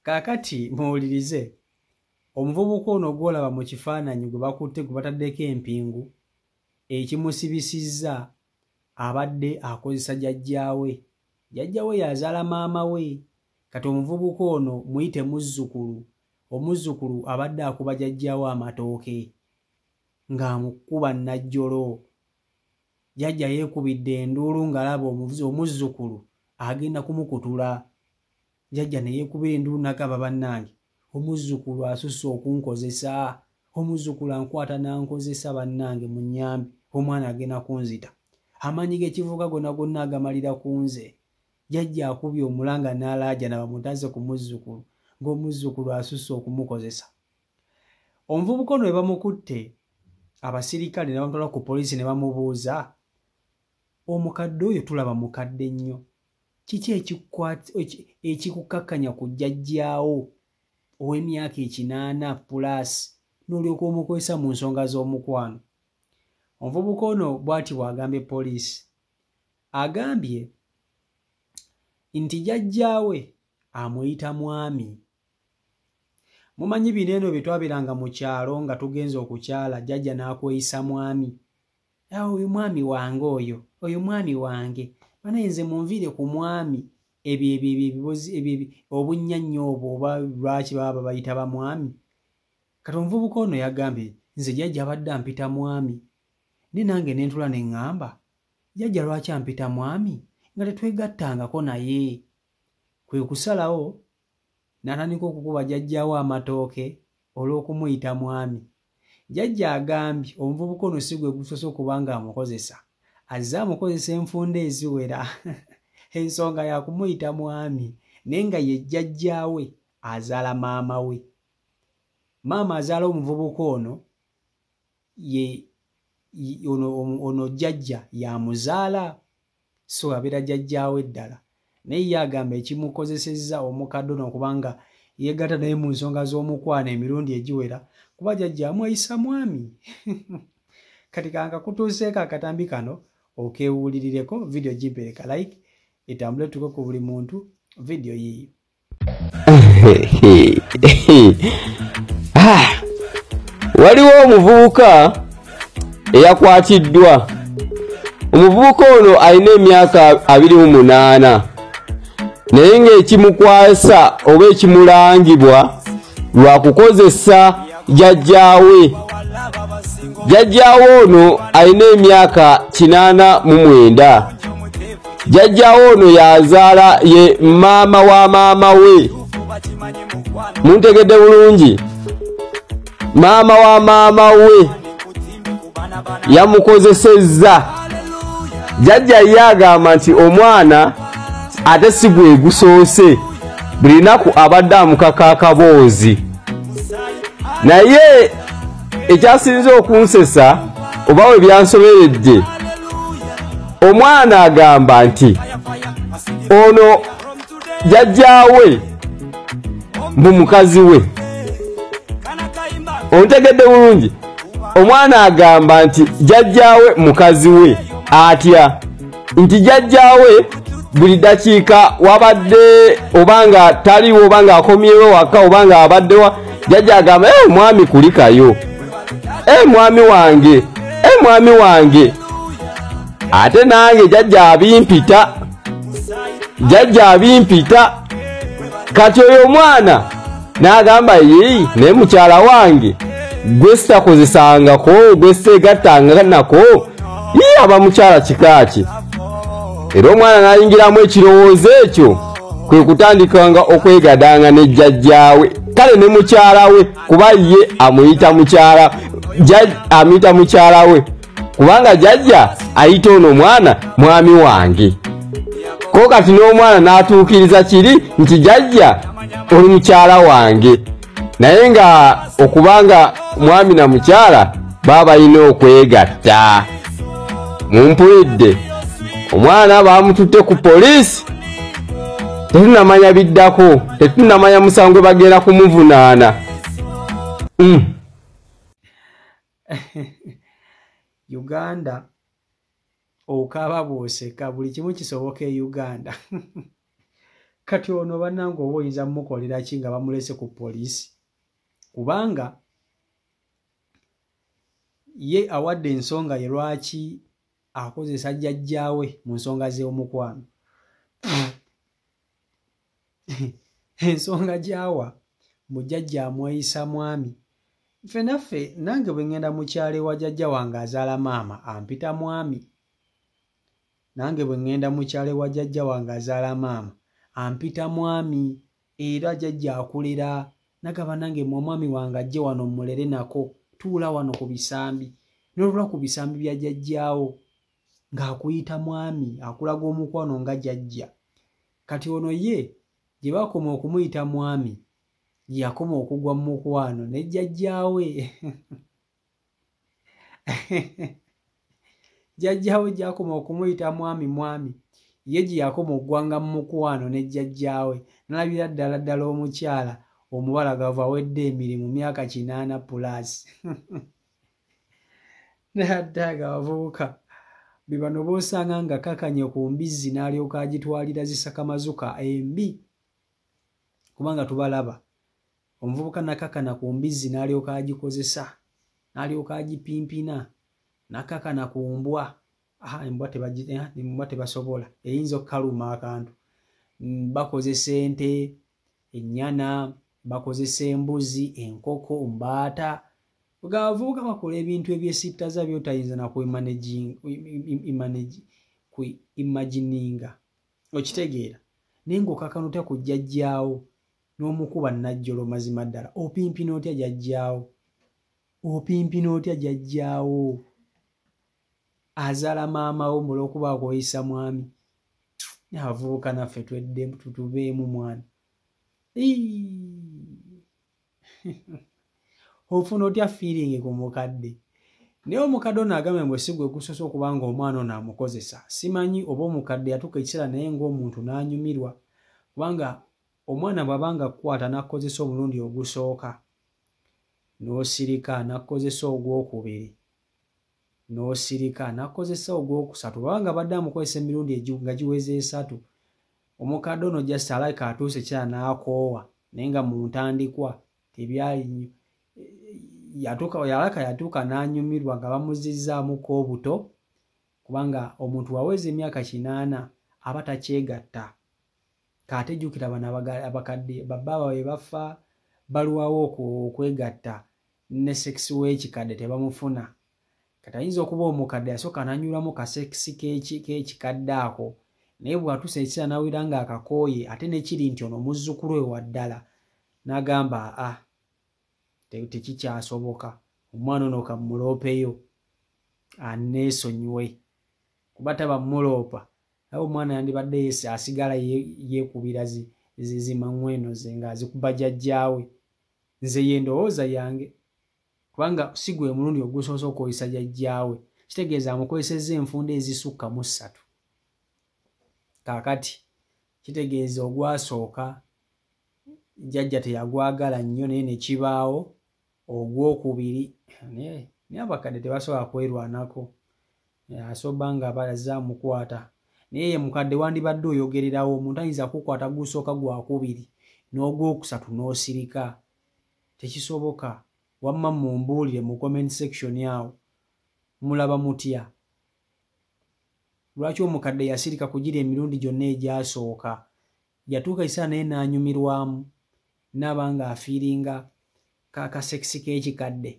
kaakati muwulirize omuvubuka ono gwolaba mu kifaananyi gwe bakutte gwe bataddeko empingu ekimusibisizza abadde akozesa jajjaawe jajjawe yazaala maama we kati omuvubuka ono muyite muzzukulu omuzzukulu abadde akuba jajjawo amatooke ng'amukuba najjolo jajja yeekubidde enduulu ng'alaba omuvuzi omuzzukulu agenda kumukutula jajja ne yeekubira enduulu nagamba bannange omuzzukulu asusse okunkozesa omuzzukulu ankwata n'ankozesa bannange mu nnyambi omwana agenda kunzita amaanyi g'ekivuga gonna gonna agamalira ku nze jajja akubye omulanga n'alaajana bamutaze ku muzzukulu ng'omuzzukulu asusse okumukozesa omuvubuka ono webamukutte abasirikale nebamutwala ku poliisi ne bamubuuza omukadde oyo tulaba mukadde nnyo kiki ekikukakkanya ku jjajjaawo ow'emyaka ekinaana pulaasi n'olyoka omukozesa mu nsonga z'omukwano omuvubuka ono bw'ati bw'agambye poliisi agambye nti jjajjaawe amuyita mwami mumanyi bino eno bye twabeeranga mu kyalo nga tugenza okukyala jjajja n'akweyisa mwami awo oyo mwami wange oyo oyo mwami wange banaye nze munviire ku mwami ebyo ebyo ebyo ebibozi ebyo ebyo obunnya nnyo obwo oba lwaki baba babayita bamwami kati omuvubuka ono yagambye nze jjajja abadde ampita mwami ne nange ne ntula ne ŋŋamba jjajja lwaki ampita mwami nga tetwegattangako naye kwe kusalawo natandika okukuba jajjaawo amatooke olw'okumuyita mwami jajja agambye omuvubuka ono si gwe gusoose okuba nga amukozesa azze amukozesa enfunda eziwera ensonga yakumuyita mwami naye nga ye jjajjaawe azaala maama we maama azaala omuvubuka ono ye ono jjajja yamuzaala so abeera jajjaawe ddala naye ye agamba ekimukozesezza omukadde ono okuba nga yeegatta naye mu nsonga z'omukwano emirundi egiwera kuba jajja amweyisa mwami kati kankakutuuseeko akatambi kano okeewulirireko vidiyo gimpereka like etambule tuko ku buli muntu vidiyo yiiyo Ah, waliwo omuvubuka eyakwatiddwa omuvubuka ono alina emyaka abiri mu munaana naye ng'ekimukwasa oba ekimulangibwa lwa kukozesa jajjaawe jajjaawe ono alina emyaka kinaana mu mwenda jajjawo ono yazaala ye maama wa maama we muntegedde bulungi maama wa maama we yamukozesezza jajja ye agamba nti omwana ate si gwegusoose buli naku abadde amukaka akaboozi naye ekyasinze okunsesa oba we byansoberedde omwana agamba nti ono jajjaawe mbu mukazi we ontegedde bulungi omwana agamba nti jajjaawe mukazi we atya nti jajjaawe buli dakiika wabadde oba nga taliwo oba nga akomyewo waka oba nga abaddewa jajja agamba e mwami kulikayo e mwami wange e mwami wange ate nange jajja abimpita jajja abimpita kati oyo omwana n'agamba yii naye mukyala wange gwe sitakozesangako gwe sitegattanga nako yii aba mukyala kikaaki era omwana n'ayingiramu ekirowoozo ekyo kwe kutandikanga okwegadanga ne jjajjaawe kale ne mukyala we kuba ye amuyita mukyala amuyita mukyala we kubanga jajja ayita ono omwana mwami wange ko kati n'omwana n'atuukiriza kiri nti jajja oli mukyala wange naye nga okuba nga mwami na mukyala baba balina okwegatta mumpulidde omwana baamututte ku poliisi tetunamanya biddako tetunamanya musango bagenda kumuvunaana mm. uganda okaaba bwoseka buli kimu kisoboka e uganda kati ono banange oba oyinza mukolera ki nga bamulese ku poliisi kubanga ye awadde ensonga ye lwaki akozesa jjajjaawe mu nsonga z'omukwano ensonga gyawa mbu jajja amweyisa mwami nfe naffe nange bwe ŋŋenda mu kyalo ewa jajja wange azaala maama ampita mwami nange bwe ŋŋenda mu kyalo ewa jajja wange azaala maama ampita mwami era jajja akulera nagaba nange mwe omwami wange ajje wano mmulere nako tuula wano ku bisambi nolula ku bisambi bya jajjaawo ng'akuyita mwami akulaga omukwano nga jajja kati ono ye gye bakoma okumuyita mwami yakoma okugwa mu mukwano ne jjajjaawe jjajjaawe gyakoma okumuyita mwami mwami ye gye yakoma okugwanga mu mukwano ne jjajjaawe nalabira ddala ddala omukyala omubalagavu awedde emirimu myaka kinaana pulaasi naddaaga abavubuka be bano b'osanga nga kakanye ku mbizzi n'alyoka agitwalira zisakamazuka embi kubanga tubalaba omuvubuka nakakana ku mbizzi n'alyoka agikozesa n'alyoka agipimpina nakakana ku mbwa aha embwa eh, tebasobola eyinza okukaluma akantu mm, bakozesa ente ennyana bakozesa embuzi enkoko mbaata nga abavubuka bakola ebintu ebyesittaza byotayinza nakuimagininga okitegeera naye ngaokakano otya kujja jjaawo n'omukuba najjolo mazima ddala opimpina otya jajjaawo opimpina otya jajjaawo azala maama wo mula okuba akoyisa mwami avubuka naffe twedde tutubeemu mwana ofuna otya feeling ku mukadde naye omukadde ono agambe mbu esigwe gusosa okuba nga omwana ono amukozesa simanyi oba omukadde yatuuka ekiseera naye ngaomuntu n'anyumirwa kubanga omwana bwaba nga kukwata nakukozesa omulundi ogusooka n'osirika nakukozesa ogwokubiri n'osirika nakozesa ogwokusatu baba nga badde amukozesa emirundi nga giweza esatu omukadde ono just alabika atuuse ekiseera n'akoowa naye nga mu ntandikwa tebyali nnyo yatuuka yalaka yatuuka n'anyumirwa nga bamuzizzaamukko obuto kubanga omuntu waweza emyaka kinaana aba takyegatta kaate jukira bano abakadde babba bawe bafa balwawo okwegatta ne sekisi w'ekikadde tebamufuna kati ayinza okuba omukadde yasooka nanyulamu kasekisi k'ekikadde ako naye bwatuusa ekiseera nawulira nga akakooye ate nekiri nti ono muzzukulu we waddala nagamba a ah, tekikyasoboka omwana ono kamuloopeyo aneesonyiwe kuba taba muloopa naye omwana yandibadde yesi asigala yekubira zimangweno ze nga azikuba jajjaawe nze ye ndowooza yange kubanga si gwe mulundi ogusoose okukozesa jajjaawe kitegeeza amukozesezza enfunda ezisukka mu ssatu kaakati kitegeeza ogwasooka jajja teyagwagala nnyo naye nekibaawo ogwokubiri naye abakadde tebasobola kwerwanako asoba nga baza mukwata naye ye mukadde wandibadde oyogererawo omuntu ayinza kukwata gusooka gwakubiri n'ogwokusatu n'osirika tekisoboka wamma mumbuulire mu comment section awo mulaba mutya lwaki omukadde yasirika kugira emirundi gyonna egyasooka yatuuka ekiseera naye n'anyumirwamu naaba nga afiiringa kakasekisi k'ekikadde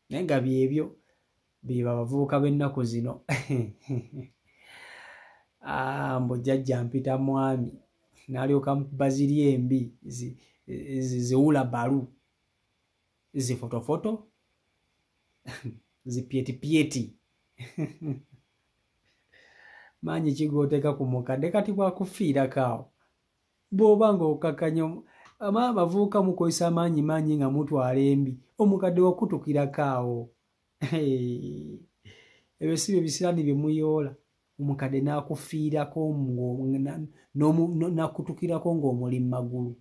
naye nga byebyo beba abavubuka b'ennaku zino ah, mbu jjajja mpita mwami n'alyoka baziri embi ziwula balu zifotofoto zipyetipyeti maanyi kigooteka ku mukadde kati bwakufiirakaawo bw'oba nga okakanya ama abavubuka mukozesa amaanyi maanyi nga mutwala embi omukadde wakutukirakawo ebyo si bye bisiraani bye muyoola omukadde n'akufiirako nakutukirako ng'omuli mu magulu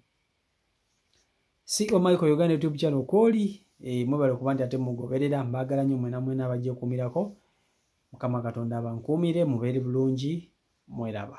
si omaiko oh uganda youtube channel kwoli e, eh, mwebale kuba nti ate mugoberera mbagala nyo mwena mwena abajja okumirako mukama katonda abankuumire mubeere bulungi mweraba